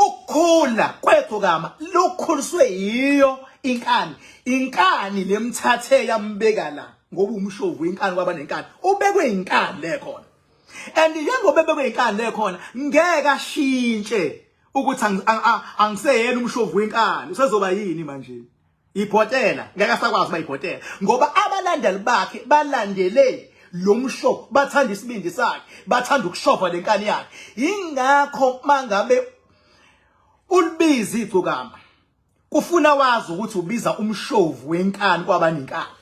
ukukhula kwethu kama lokhuliswe yiyo inkani inkani lemthathe yambeka la ngoba umshovu inkani kwaba nenkani ubekwe inkani le khona and njengoba ebekwe inkani le khona ngeke ashintshe ukuthi angiseyena umshovu wenkani usezoba yini manje ibhotela ngeke asakwazi uba ibhotela ngoba abalandeli bakhe balandele lo msho bathanda isibindi sakhe bathanda ukushova le nkani yakhe yingakho mangabe ulibiza igcokama kufuna wazi ukuthi ubiza umshovu wenkani kwabanenkani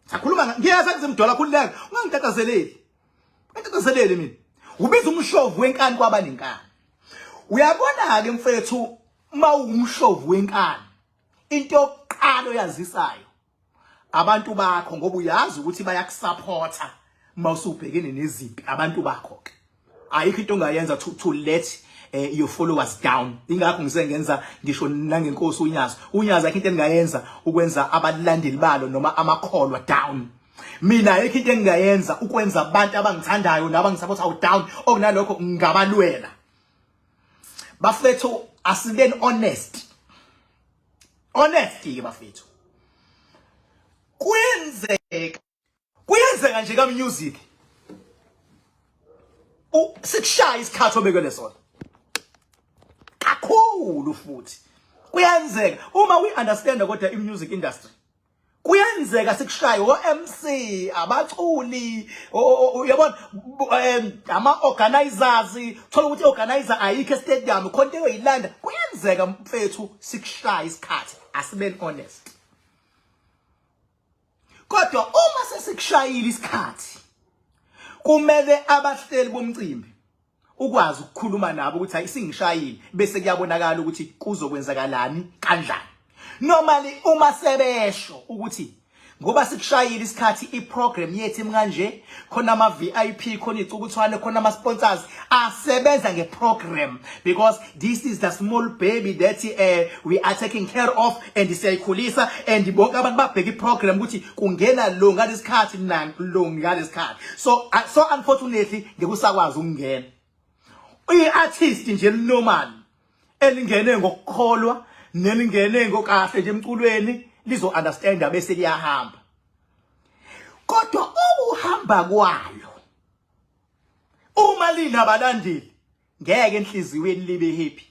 sakhuluma ngiyeza kuzimdola khululeka ungangitathazeleli ungitathazeleli mina ubiza umshovu wenkani kwabanenkani uyabona-ke mfethu mawumhlovu wenkani into yokuqala oyazisayo abantu bakho ngoba uyazi ukuthi bayakusupporta mawusubhekene nezimpi abantu bakho ke ayikho into ongayenza to, to let eh, your followers down ingakho ngisengenza ngisho nangenkosi unyazi unyazi akho into engayenza ukwenza abalandeli balo noma amakholwa down mina ayikho into engayenza ukwenza abantu abangithandayo nabangisapothayo down okunalokho ngabalwela bafethu asibeni honest honest ke bafethu kuyenzeka kuyenzeka nje ka music u sikushaya isikhathi obekele sona kakhulu futhi kuyenzeka uma we understand kodwa i music industry kuyenzeka sikushaye o-MC abaculi uyabona ama-organizers thola ukuthi i-organizer ayikho estadium khona into eyoyilanda kuyenzeka mfethu sikushaye isikhathi asibeni honest kodwa uma sesikushayile isikhathi kumele abahleli bomcimbi ukwazi ukukhuluma nabo ukuthi hayi singishayile bese kuyabonakala ukuthi kuzokwenzakalani kanjani normally uma sebesho ukuthi ngoba sikushayile isikhathi iprogram yethu imkanje khona ama VIP khona icukuthwane khona ama sponsors asebenza ngeprogram because this is the small baby that uh, we are taking care of and siyayikhulisa and bonke abantu babheka iprogram ukuthi kungena lo ngalesikhathi lo ngalesikhathi so uh, so unfortunately ngikusakwazi ukungena uyi-artist nje normal elingene ngokukholwa nelingene ngokahle nje emculweni lizo understand bese liyahamba kodwa ukuhamba kwayo uma linabalandeli ngeke enhliziyweni libe happy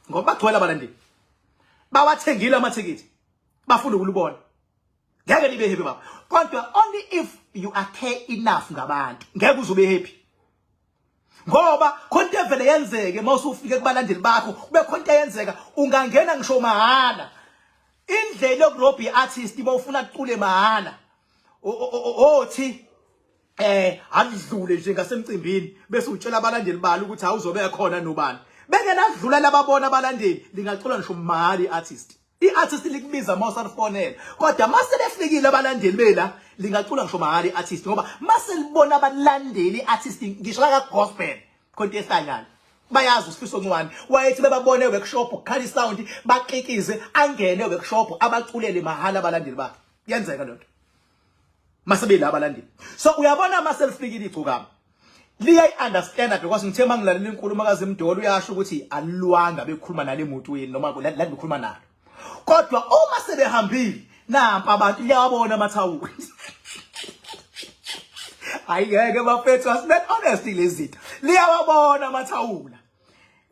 ngoba bagcwele abalandeli bawathengile amathikithi bafuna ukulibona ngeke libe happy baba kodwa only if you are care enough ngabantu ngeke uzobe happy ngoba khona into evele yenzeke uma usufike kubalandeli bakho kube khona into eyenzeka ungangena ngisho mahhala indlela yokurobha i-artist uma ufuna kucule mahhala othi eh akudlule nje ngasemcimbini bese utshela abalandeli balo ukuthi awuzobe ekhona nobani bengenadlula lababona abalandeli lingacula ngisho mali artist i-artist likubiza uma usalifonela kodwa uma selefikile abalandeli bela lingacula ngisho mahali i-artist ngoba uma selibona abalandeli i-artist ngisho lakagospel khonto ehlanyana bayazi usifiso ncwane wayethi bebabone workshop kukhale isound baqikize angene workshop abaculele mahhala abalandeli bakhe yenzeka lento masebeyila abalandeli so uyabona uma selifikile igcokama liyayi-understanda because ngithe uma ngilalela inkulumo kazimdolo uyasho ukuthi alilwanga bekhuluma nale motweni noma la bekhuluma nalo kodwa uma sebehambile nampa abantu liyawabona amathawula hayi ngeke bafethu asibe honest lezitha liyawabona amathawula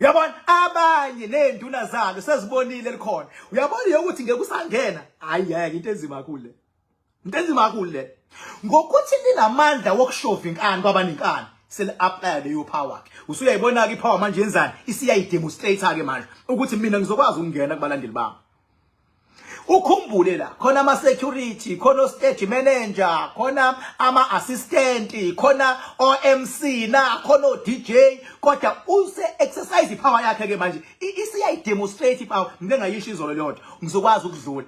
uyabona abanye nenduna zalo sezibonile likhona uyabona yokuthi ngeke usangena hayi ngeke into enzima kule into enzima kakhulu le ngokuthi linamandla wokushova inkani kwabanenkani seli-aplaya leyo power ke usuyayibona-ke ipower manje yenzani isiyayidemonstrate-ke manje ukuthi mina ngizokwazi ukungena kubalandeli bami ukhumbule la khona ama security khona stage manager khona ama assistant khona OMC na khona DJ kodwa use exercise power yakhe ke manje isiyayi demonstrate power ngike ngayisho izolo leyonto ngizokwazi ukudlula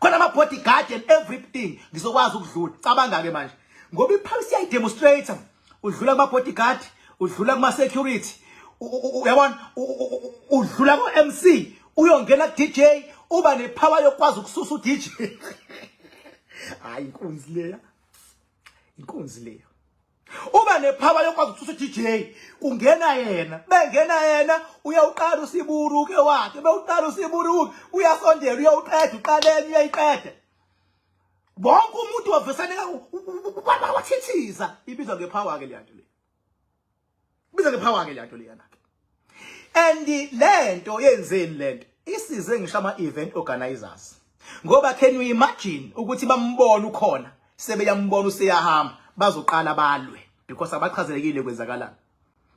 khona ama bodyguard and everything ngizokwazi ukudlula cabanga ke manje ngoba iphawisi siyayi demonstrator udlula kuma bodyguard udlula kuma security uyabona udlula ku MC uyongena ku DJ uba ne power yokwazi ukususa u DJ hayi inkunzi leya inkunzi leya uba nephawa yokwazi ukususa i-dj kungena yena bengena yena uyawuqala usiburuke wakhe bewuqala usiburuke uyasondela uyawuqeda uqaleni uyayiqeda bonke umuntu wavesaneka wathithiza ibizwa ngephawa-ke leyanto le biza ke power ke lento leyana ke and lento yenzeni lento isize ngisho ama event organizers ngoba can you imagine ukuthi bambona ukhona sebeyambona useyahamba bazoqala balwe because abachazelekile kwenzakalana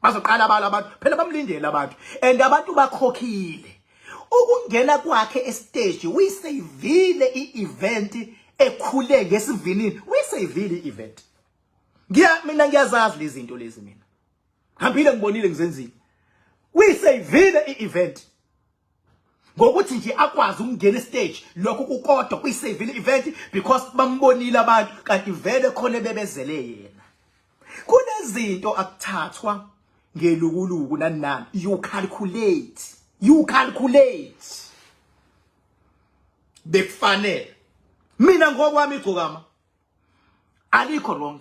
bazoqala balwe abantu phela bamlindele abantu and abantu bakhokhile ukungena kwakhe estage uyisavile i-event ekhule ngesivinini uyisavile i-event ngiya mina ngiyazazi lezi zinto lezi mina ngihambile ngibonile ngizenzile kuyiseyivile i-event ngokuthi nje akwazi ukungena estage lokho kukodwa kuyiseyivile i-event because bambonile abantu kanti vele khona bebezele yena kunezinto akuthathwa ngelukuluku nanani you calculate you calculate bekufanele mina ngokwami igcokama alikho wrong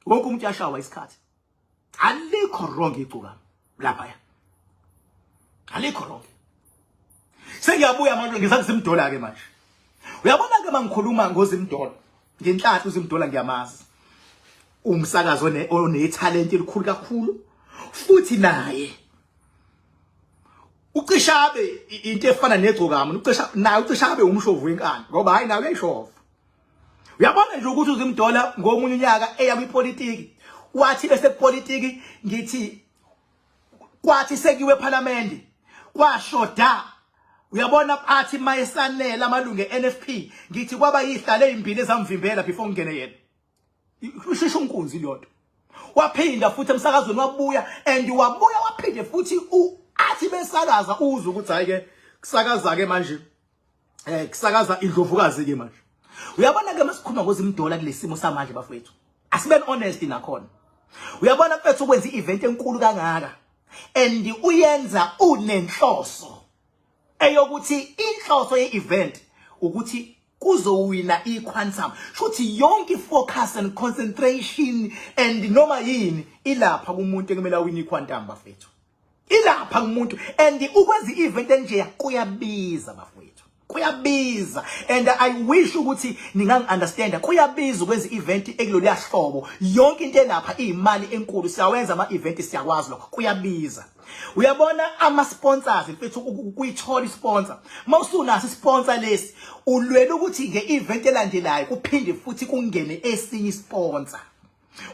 wonke umuntu yashawa isikhathi alikho wrong igcuka lapha ya alikho wrong sengiyabuya manje ngisathi simdola ke manje uyabona ke mangikhuluma ngozimdola ngenhlanhla uzimdola ngiyamazi umsakazo onetalent elikhulu kakhulu futhi naye ucishabe into efana negcokama ucisha naye ucishabe umshovu wenkani ngoba hayi nawe uyayishova uyabona nje ukuthi uzimdola ngomunye unyaka eya kwipolitiki wathi bese kupolitiki ngithi kwathi sekiwe ePhalamende kwashoda uyabona athi mayesanela amalungu eNFP ngithi kwaba yihlale ezimbili ezamvimbela before ngene yena usheshe unkunzi lento waphinda futhi emsakazweni wabuya and wabuya waphinde futhi athi besakaza uzwe ukuthi hayi ke kusakaza ke manje eh kusakaza indlovukazi ke manje uyabona ke masikhuluma ngozimdola kulesimo samanje bafethu asiben honest nakhona uyabona mfethu ukwenza i-event enkulu kangaka and uyenza unenhloso eyokuthi inhloso ye-event ukuthi kuzowina iquantum shuthi yonke ifocus and concentration and noma yini ilapha kumuntu ekumele awine iquantum bafethu ilapha kumuntu and ukwenza i-event enjeya kuyabiza bafowethu kuyabiza and i wish ukuthi ningangi-understanda kuyabiza ukwenza i-event ekuloluya hlobo yonke into elapha iyimali enkulu siyawenza ama-event siyakwazi lokho kuyabiza uyabona ama-sponsors mfethu kuyithola i-sponsor uma usunaso i-sponsor lesi ulwela ukuthi nge-event elandelayo kuphinde futhi kungene esinye i-sponsor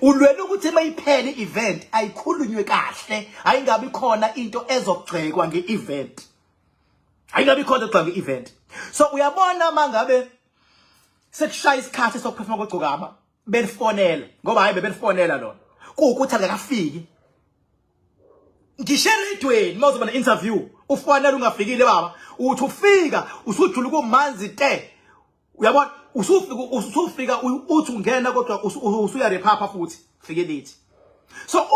ulwela ukuthi mayiphele i-event ayikhulunywe kahle hayi ngabi khona into ezogxekwa nge-event hayi ngabi khona ogxekwa nge-event so uyabona uma ngabe sekushaya isikhathi sokuphefuma kogcokama belifonela ngoba hayi bebelifonela lona kuwukuthi akakafiki ngisho eredweni uma uzoba ne-interview ufanele ungafikile baba uthi ufika usujula kumanzi te uyabona usufika usufika uthi ungena kodwa usuya rephapha futhi fike lithi so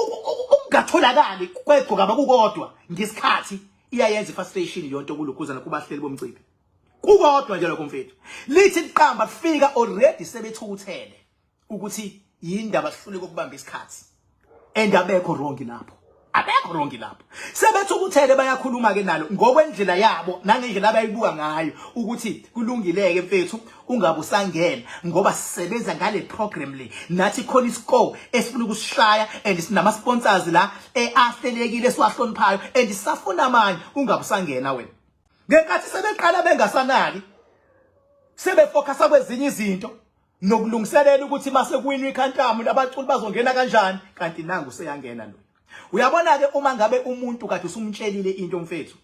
ukungatholakali kwegcoka abakukodwa ngesikhathi iyayenza ifrustration yonto kulukhuzana kubahleli bomcimbi kukodwa nje lokho mfethu lithi liqamba kufika already sebethukuthele ukuthi yindaba sihluleke ukubamba isikhathi and abekho wrong lapho abekho wrong lapho sebethi ukuthele bayakhuluma ke nalo ngokwendlela yabo nangendlela abayibuka ngayo ukuthi kulungileke mfethu ungabe usangena ngoba sisebenza ngale program le nathi khona iscore esifuna ukusishaya and sinama sponsors la eahlelekile siwahloniphayo and sisafuna amanye ungabe usangena wena ngenkathi sebeqala bengasanaki sebefocus kwezinye izinto nokulungiselela ukuthi mase kuwinwa ikhantamu labaculi bazongena kanjani kanti nangu seyangena lo uyabona ke uma ngabe umuntu kade usumtshelile into mfethu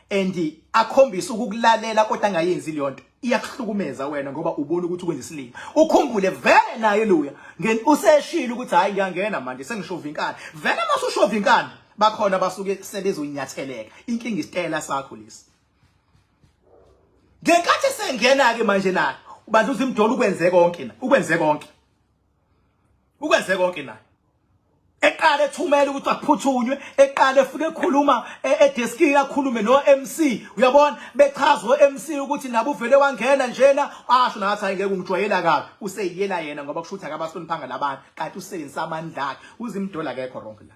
and akhombisa ukukulalela kodwa angayenzi leyo nto iyakuhlukumeza wena ngoba ubona ukuthi ukwenza isilima ukhumbule vele naye luya ngeni useshilo ukuthi hayi ngiyangena manje sengishova inkani vele masushova inkani bakhona basuke sebezonyatheleka inkinga isitela sakho lesi ngenkathi esengena ke manje naye ubandla uzimdola ukwenze konke na ukwenze konke ukwenze konke naye eqale ethumela ukuthi aphuthunywe eqale efuna ekhuluma e, edeskini akhulume no MC uyabona bechazwe MC ukuthi nabo uvele wangena njena asho nathi hayi ngeke ungijwayela kabi useyiyela yena ngoba kusho ukuthi akabahloniphanga labantu kanti usebenzisa amandla akhe uzimdola kekho wrong la